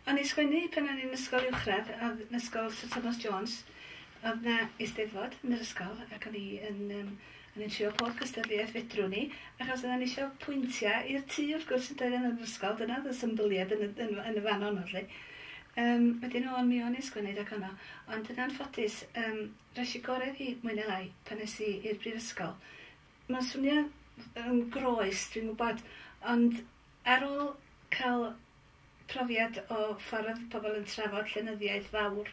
O'n i'n sgwennu pan o'n i'n ysgol uwchradd o'dd ysgol Syr Thomas Jones o'dd 'na Eisteddfod yn yr ysgol ac o'n i yn yym o'n i'n trio pob cystadleuaeth fedrwn i achos oddan ni isio pwyntia i'r tŷ wrth gwrs yndoedden yn yr ysgol dyna o'dd y symbyliad yn y yn y yn y fan honno 'lly. Yym wedyn o'n mi o'n i'n sgwennu rag honno ond yn anffodus yym resh i gore fi mwy ne lai pan es i i'r brifysgol. Ma'n swnio yn groes dwi'n gwbod ond ar ôl ca'l profiad o ffordd pobl yn trafod llenyddiaeth fawr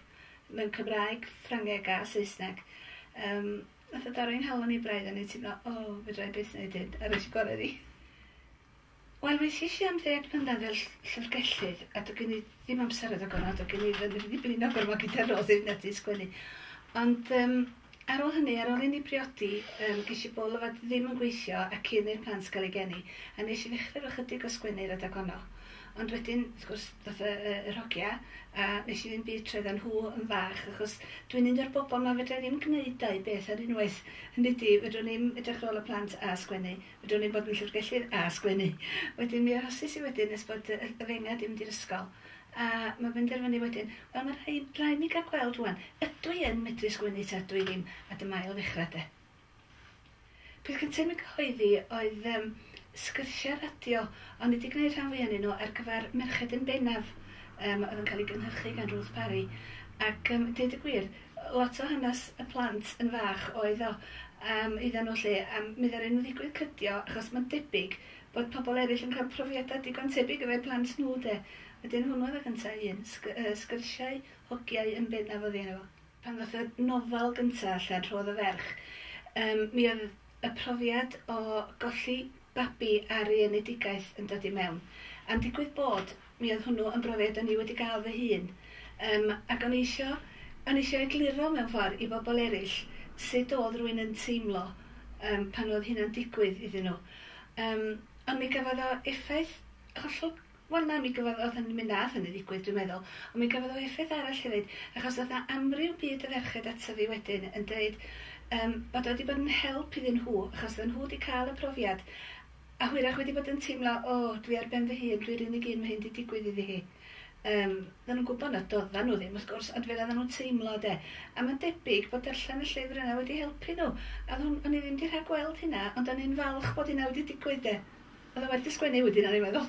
mewn Cymraeg, Ffrangeg a Saesneg. Yym, nath o dorri'n nghalon i braidd, o'n i'n teimlo, o, fedra i byth neud hyn, a rois y gore fi. Wel, weithies i am ddeg mlynedd fel ll- llyfrgellydd, a do' gen i ddim amser addo gormod, do' gen i ddim yn ddibynnol gormod gyda Roslyn Eddie sgwennu. Ond yym, Ar ôl hynny, ar ôl i ni briodi, yym, ges i bwl o fod ddim yn gweithio a cyn i'r plant gael eu geni, a nes i ddechrau efo chydig o sgwennu ar adeg honno. Ond wedyn, wrth gwrs, ddoth y, y, yr hogia, a nes i ddim byd troi iddyn nhw yn fach, achos dwi'n un o'r bobl 'ma fedra i ddim gneud dau beth ar unwaith, hynny ydi, fedrwn i'm edrych ar ôl y plant a sgwennu, fedrwn i'm bod yn Llyfrgellydd a sgwennu. Wedyn mi arhosis i wedyn nes bod y, y, y fenga 'di mynd i'r ysgol. A mae'n penderfynu wedyn, 'Wel, mae'n rhaid, rhaid mi gael gweld rwan, ydw i yn medru sgwennu ta ydw i ddim? A dyma ail ddechrau, de. Peth cyntaf i mi gyhoeddi oedd um, sgyrsiau radio, ond wedi gwneud rhan fwy anyn nhw ar gyfer merched yn bennaf, um, oedd yn cael ei gynhyrchu gan Ruth Parry. Ac um, dweud y gwir, lot o hanes y plant yn fach oedd o um, iddyn nhw lle, a mi ddaru nhw ddigwydd cydio, achos mae'n debyg Bod pobl eraill yn cael profiadau digon tebyg efo'u plant nhw 'de? Wedyn hwnnw oedd y gynta' un. Sgyrsiau, hogiau yn bennaf oedd un efo. Pan ddoth y nofel gynta' allan, Rhodd y Ferch, yym mi oedd y profiad o golli babi ar ei enedigaeth yn dod i mewn. A'n digwydd bod, Mi oedd hwnnw yn brofiad o'n i wedi gael fy hun, yym, ac o'n i isio, o'n i isio egluro mewn ffordd i bobl eraill sut oedd rhywun yn teimlo yym pan oedd hynna'n digwydd iddyn nhw. Yym, ond mi gafodd o effaith hollol, wel na, mi gafodd, oedd hynny, mi wnaeth hynny ddigwydd dwi'n meddwl, ond mi gafodd o effaith arall hefyd, achos oedd 'na amryw byd o ferched ata fi wedyn yn deud yym bod o wedi bod yn help iddyn nhw, achos oedden nhw wedi cael y profiad, A hwyrach wedi bod yn teimlo, 'O, dwi ar ben fy hun, dwi'r unig un ma' hyn 'di digwydd iddi hi. Yym, oeddan nhw'n gwybod nad oeddan nhw ddim, wrth gwrs, ond fel oeddan nhw'n teimlo, 'de. A mae'n debyg bod darllen y llyfr yna wedi helpu nhw. A o'dd hwn- o'n i ddim 'di rhagweld hynna, ond o'n i'n falch bod hynna wedi digwydd, 'de. O'dd o werth 'i sgwennu wedyn, o'n i'n meddwl.